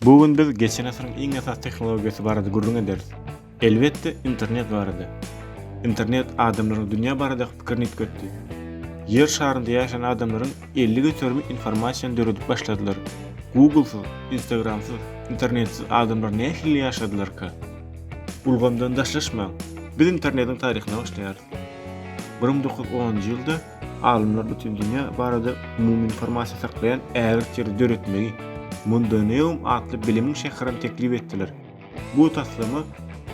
Bu gün biz geçen asyryň iň esasy tehnologiýasy barada gürrüň ederis. Elbetde, internet barada. Internet adamlaryň dünýä baradaky pikirini üýtgetdi. Ýer şarynda ýaşaýan adamlaryň elli göterimi informasiýany döredip başladylar. Google-syz, Instagram-syz, internetsiz adamlar nähili ýaşadylarka? Ulgamdan daşlaşmaň. Biz internetiň taryhyna başlaýarys. Bir müň dokuz ýüz onunjy ýylda, Alymlar bütin dünýä barada umumy informasiýa saklaýan ägirt ýeri döretmegi, Mundoneum atly bilimiň şäherini teklip etdiler. Bu taslama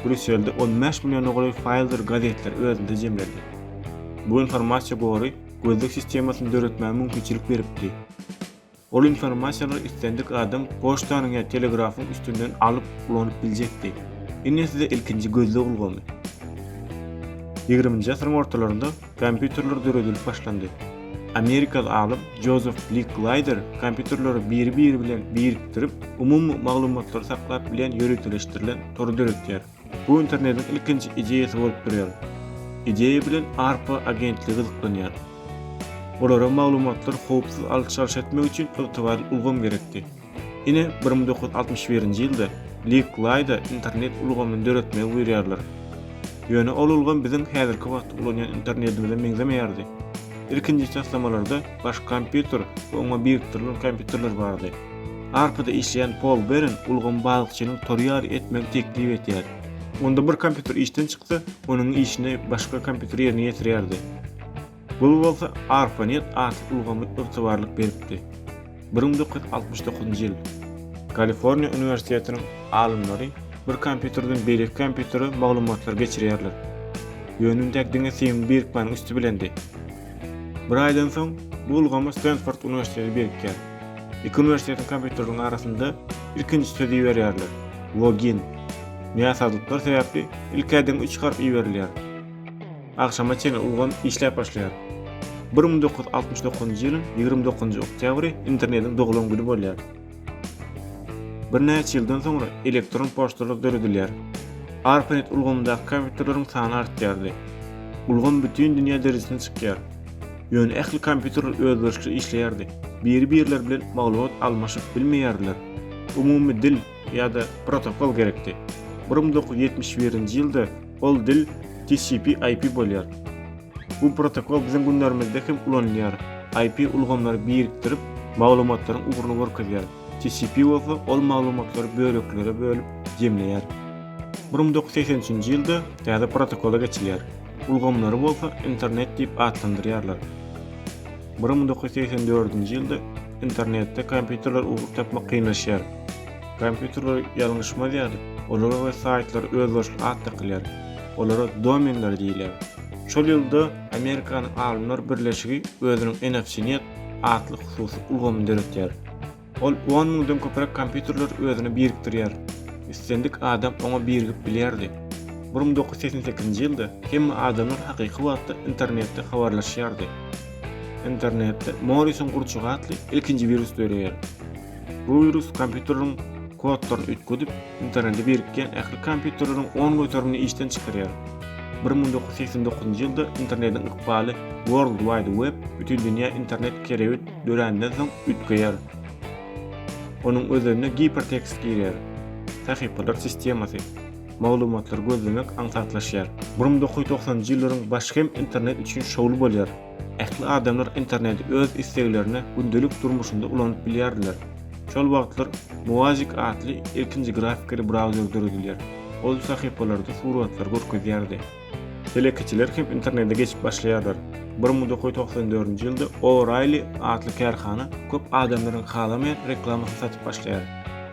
Brýusselde on bäş milliona golaý faýldyr gazetleri özünde jemledi. Bu informasiýa gory gözleg sistemasyny döretmäge mümkinçilik beripdi. Ol informasiýalary islendik adam poçtanyň ýa telegrafyň üstünden alyp, ulanyp biljekdi. Ine size ilkinji gözleg ulgamy. Ýigriminji asyryň ortalarynda kompýuterler döredilip başlandy. Amerikaly alym Jozef Li Klaýder kompýuterleri biri-biri bilen birikdirip, umumy maglumatlary saklap bilýän ýöriteleşdirilen tory döretýär. Bu internetiň ilkinji ideýasy bolup durýar. Ideýa bilen ARPA agentligi gyzyklanýar. Olara maglumatlary howpsuz alyş-çalyş etmek üçin ygtybarly ulgam gerekdi. Ine, bir müň dokuz ýüz altmyş birinji ýylda Liqlaýda internet ulgamyny döretmegi buýurýarlar. Ýöne ol ulgam biziň häzirki wagtda ulanýan internetimize meňzemeýärdi. Ilkinji taslamalarda baş kompýuter we oňa birikdirilen kompýuterler bardy. Arpyda işleýän Pol Beren ulgamy balykçynyň tory ýaly etmegi teklip edýär. Onda bir kompýuter işden çyksa, onuň işini başga kompýuter ýerine ýetirýärdi. Bul bolsa ARPANET atly ulgamy ygtybarlyk beripdi. Bir müň dokuz ýüz altmyş dokuzynjy ýyl. Kaliforniýa uniwersitetiniň alymlary bir kompýuterden beýleki kompýutere maglumatlary geçirýärler. Ýöne üntäk diňe Seým birikmäniň üsti bilendi. Bir aýdan soň, bu ulgama Stenford uniwersiteti birikýär. Iki uniwersitetiň kompýuteriniň arasynda ilkinji sözi iberýärler, login. Näsazlyklar sebäpli ilk-äden üç harp iberilýär. Agşama çenli ulgam işläp başlaýar. Bir müň dokuz ýüz altmyş dokuzynjy ýylyň ýigrimi dokuzynjy oktýabry Internetiň doglan güni bolýar. Birnäçe ýyldan soňra elektron poçtalar döredilýär. ARPANET ulgamyndaky kompýuterleriň sany artýardy. Ulgam bütin dünýä derejesine çykýar. Ýöne ähli kompýuterler özboluşly işleýärdi. Biri-birleri bilen maglumat almaşyp bilmeýärdiler. Umumy dil ýa-da protokol gerekdi. Bir müň dokuz ýüz ýetmiş birinji ýylda ol dil TCP-IP bolýar. Bu protokol biziň günlerimizde hem ulanylýar. IP ulgamlary birikdirip, maglumatlaryň ugruny görkezýär. TCP bolsa ol maglumatlary böleklere bölüp, jemleýär. Bir müň dokuz ýüz segsen üçünji ýylda täze protokola geçilýär. Ulgamlary bolsa Internet diýip atlandyrýarlar. Bir müň dokuz ýüz segsen dördünji ýylda Internetde kompýuterler ugur tapmak kynlaşýar. Kompýuterler ýalňyşmaz ýaly, olara we saýtlara özbaşly at dakylýar. Olara domenler diýilýär. Şol ýylda Amerikanyň alymlar birleşigi özüniň EnFCNet atly hususy ulgamyny döretýär. Ol on müňden köpräk kompýuterler özüne birikdirýär. Islendik adam oňa birigip bilýärdi. Bir müň dokuz ýüz segsen sekizinji ýylda hemme adamlar hakyky wagtda internetde habarlaşýardy. Internetde Morrisoň gurçugy atly ilkinji wirus döreýär. Bu wirus kompýuterleriň kodlaryny üýtgedip, internete birikýän ähli kompýuterleriň on göterimini işden çykarýar. Bir müň dokuz ýüz segsen dokuzynjy ýylda internetiň ykbaly World Wide Web, Bütindünýä internet, kerewit döränden soň üýtgeýär. Onuň özenine gipertekst girýär. Sahypalar sistemasy. Maglumatlary gözlemek aňsatlaşýar. Bir müň dokuz ýüz togsanynjy ýyllaryň başy hem internet üçin şowly bolýar. Ähli adamlar interneti öz isleglerine gündelik durmuşynda ulanyp bilýärdiler. Şol wagtlar Moazik atly ilkinji grafikali brauzer döredilýär. Ol sahypalarda suratlary görkezýärdi. Telekeçiler hem internete geçip başlaýarlar. Bir mudakoý togsan dördünji ýylda O'Reilly atly kärhana köp adamlaryň halamaýan reklamasyny satyp başlaýar.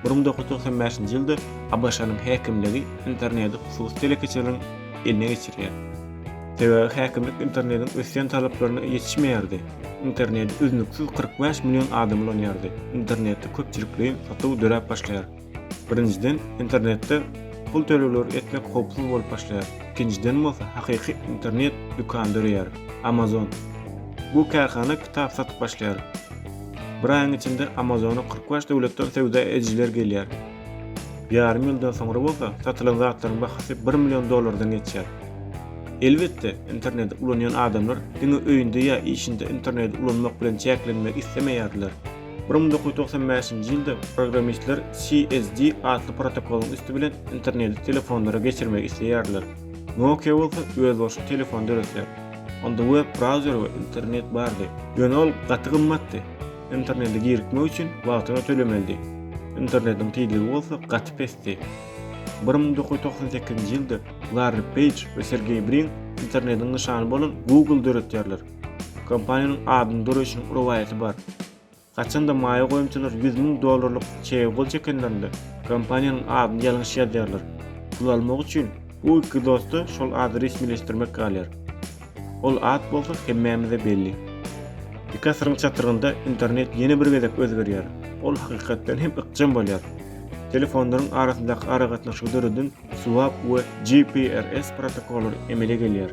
Bir mudakoý togsan bäşinji ýylda ABŞ-nyň häkimligi interneti hususy telekeçileriň eline geçirýär. Sebäbi häkimlik internetiň ösýän talaplaryna ýetişmeýärdi. Interneti üznüksiz kyrk bäş million adam ulanýardy. Internetde köpçülikleýin satuw döräp başlaýar. Birinjiden, internetde pul tölegleri etmek howpsuz bolup başlaýar. Ikinjiden bolsa, hakyky internet dükany döreýär, Amazon. Bu kärhana kitap satyp başlaýar. Bir aýyň içinde Amazona kyrk bäş döwletden söwda edijiler gelýär. Ýarym ýyldan soňra bolsa, satylan zatlaryň bahasy bir million dollardan geçýär. Elbetde, interneti ulanýan adamlar diňe öýünde ýa işinde interneti ulanmak bilen çäklenmek islemeýärdiler. Bir müň dokuz ýüz togsan bäşinji ýylda programmistler CSD atly protokolyň üsti bilen interneti telefonlara geçirmegi isleýärdiler. Nokia bolsa özbaşy telefon döretýär. Onda web-brauzer we internet bardy. Ýöne ol gaty gymmatdy. Internete girikmek üçin wagtyna tölemelidi. Internetiň tizligi bolsa gaty pesdi. Bir müň dokuz ýüz togsan sekizinji ýylda Larri Peýj we Sergeý Brin internetiň nyşany bolan Google döretýärler. Kompaniýanyň adyny döreýşiniň rowaýaty bar. Haçan-da maýa goýumçylar ýüz müň dollarlyk çege gol çekenlerinde, kompaniýanyň adyny ýalňyş ýazýarlar. Pul almak üçin, bu iki dosta şol ady resmileşdirmek galýar. Ol at bolsa hemmämize belli. Iki asyryň çatrygynda internet ýene bir gezek özgerýär. Ol hakykatdan hem ykjam bolýar. Telefonlaryň arasyndaky aragatnaşygy döreden SWAP we GPRS protokollary emele gelýär.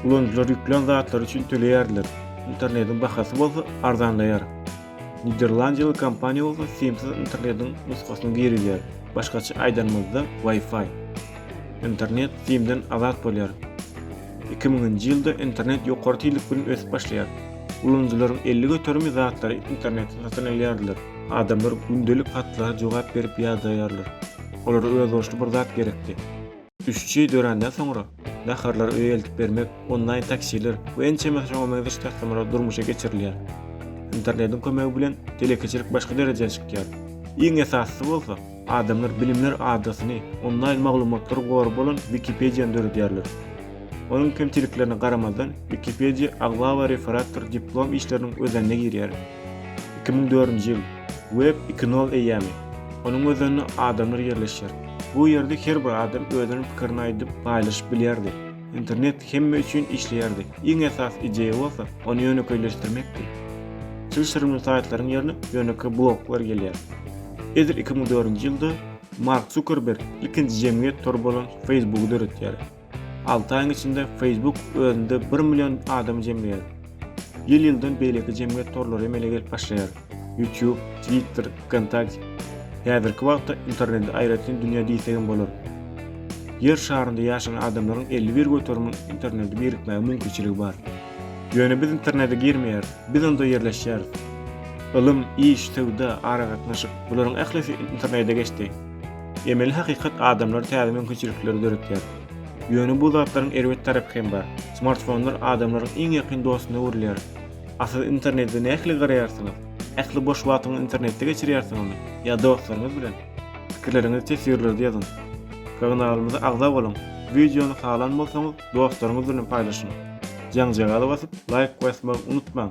Ulanyjylar ýüklän zatlary üçin töleýärler, internetiň bahasy bolsa arzanlaýar. Niderlandiýaly kompaniýa bolsa simsiz internetiň nusgasyny girizýär, başgaça aýdanymyzda Wi-Fi. Internet simden azat bolýar. Iki müňünji ýylda internet ýokary tizlik bilen ösüp başlaýar. Ulanyjylaryň elli göterimi zatlary internetden satyn alýarlar. Adamlar gündelik hatlara jogap berip ýadaýarlar. Olara özboluşly bir zat gerekdi. Üçji döränden soňra, naharlary öýe eltip bermek, onlaýn taksiler we ençeme şoňa meňzeş taslamalar durmuşa geçirilýär. Internetiň kömegi bilen telekeçilik başga derejä çykýar. Iň esasysy bolsa, adamlar bilimler adasyny, onlaýn maglumatlar gory bolan Wikipediýany döredýärler. Onuň kemçiliklerine garamazdan, Wikipediýa aglaba referatdyr diplom işleriniň özenine girýär. Iki müň dördünji ýyl. Web iki nol eýýamy. Onuň özeninde adamlar ýerleşýär. Bu ýerde her bir adam özüniň pikirini aýdyp, paýlaşyp bilýärdi. Internet hemme üçin işleýärdi. Iň esasy ideýa bolsa, ony ýönekeýleşdirmekdi. Çylşyrymly saýtlaryň ýerine ýönekeý bloglar gelýär. Edil iki müň dördünji ýylda Mark Zukerberg ilkinji jemgyýet tory bolan Facebooky döretýär. Alty aýyň içinde Facebook özünde bir million adamy jemleýär. Ýyl-ýyldan beýleki jemgyýet torlary emele gelip başlaýar. YouTube, Twitter, Vkontakte. Häzirki wagtda interneti aýratyn dünýä diýsek hem bolar. Ýer şarynda ýaşan adamlaryň elli bir göteriminiň internete birikmäge mümkinçiligi bar. Ýöne biz internete girmeýäris, biz onda ýerleşýäris. Ylym, iş, söwda, aragatnaşyk, bularyň ählisi internete geçdi. Emeli hakykat adamlara täze mümkinçilikleri döretýär. Ýöne bu zatlaryň erbet tarapy hem bar. Smartfonlar adamlaryň iň ýakyn dostuna öwrülýär. A siz internete nähili garaýarsyňyz? Ähli boş wagtyňyzy internetde geçirýärsiňizmi? Ýa dostlaryňyz bilen? Pikirleriňizi teswirlerde ýazyň. Kagnalymyza agza boluň. Wideony halan bolsaňyz, dostlaryňyz bilen paýlaşyň. Jaňjagaza basyp, laýk basmagy unutmaň!